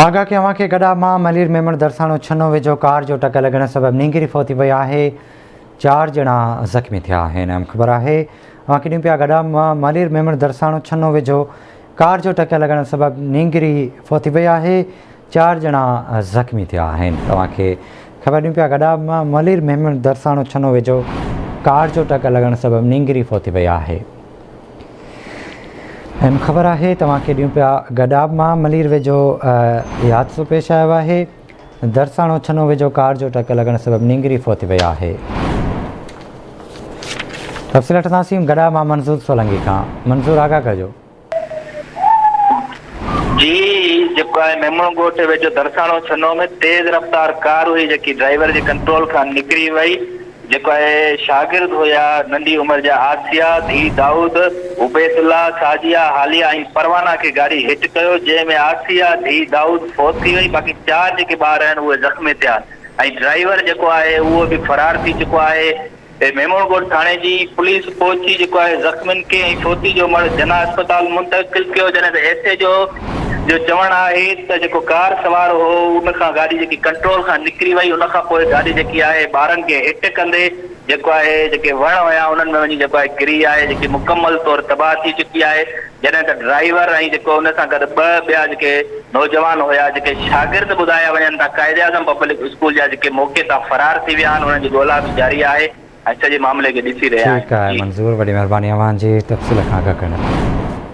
آگاهه ڪيان اوهان کي گڏا مان ملير ميمڻ درساڻو ڇنو ويجهو ڪار جو ٽڪ لڳڻ سبب نينگري فوتي پئي آهي چار ڄڻا زخمي ٿيا آهن اهم خبر آهي اوهان کي ڏيون پيا گڏا مان ملير ميمڻ درساڻو ڇنو ويجهو ڪار جو ٽڪ لڳڻ سبب نينگري فوتي پئي آهي چار ڄڻا زخمي ٿيا آهن اوهان کي خبر ڏيون پيا گڏا مان ملير ميمڻ درساڻو ڇنو ويجهو ڪار جو ٽڪ لڳڻ سبب نينگري فوتي پئي آهي ايم خبر آهي توهان کيڏيون پيا گڏاب مان ملير ويجهو حادثو پيش آيو آهي درساڻو ڇنو ويجهو ڪار جو ٽڪ لڳڻ سبب نينگري فوت وئي آهي تفصيل وٺنداسين گڏاب مان منظور سولنگي کان منظور آگاهه ڪجو جي جيڪو آهي ميمڻ ڳوٺ ويجهو درساڻو ڇنو ۾ تيز رفتار ڪار هئي جيڪي ڊرائيور جي ڪنٽرول کان نڪري وئي جيڪو اهي شاگرد هيا، ننڍي عمر جا آسيا، ڌيء دائود، عبيد الله، سعديه، حاليه ۽ پروانه کي گاري هٽ ڪيو، جنهن ۾ آسيا، ڌيء دائود، فوت ٿي وئي، باقي چار جيڪي ٻار آهن اهي زخمي ٿيا ۽ ڊرائيور جيڪو آهي اهو به فرار ٿي چڪو آهي. ميمڻ ڳوٺ ٿاڻي جي پوليس پهچي جيڪو آهي زخمين کي ۽ فوتي جو مڙهه جناح اسپتال منتقل ڪيو، جڏهن ته ايس ايڇ او جو چوڻ آهي ته جيڪو ڪار سوار هو ان کان گاڏي جيڪي ڪنٽرول کان نڪري وئي ان کان پوء گاڏي جيڪي آهي ٻارن کي هٽ ڪندي جيڪو آهي جيڪي وڻ هيا انهن ۾ وڃي جيڪو آهي ڪري آهي جيڪي مڪمل طور تباهه ٿي چڪي آهي جڏهن ته ڊرائيور ۽ جيڪو ان سان گڏ ٻه ٻيا جيڪي نوجوان هيا جيڪي شاگرد ٻڌايا وڃن ٿا قائد اعظم پبلڪ اسڪول جا جيڪي موقعي تان فرار ٿي ويا آهن انهن جي ڳولا به جاري آهي ۽ سڄي معاملي کي ڏسي رهيا آهن. ٺيڪ آهي منظور وڏي مهرباني اوهان جي تفصيل کان آگاهه ڪرڻ لاء.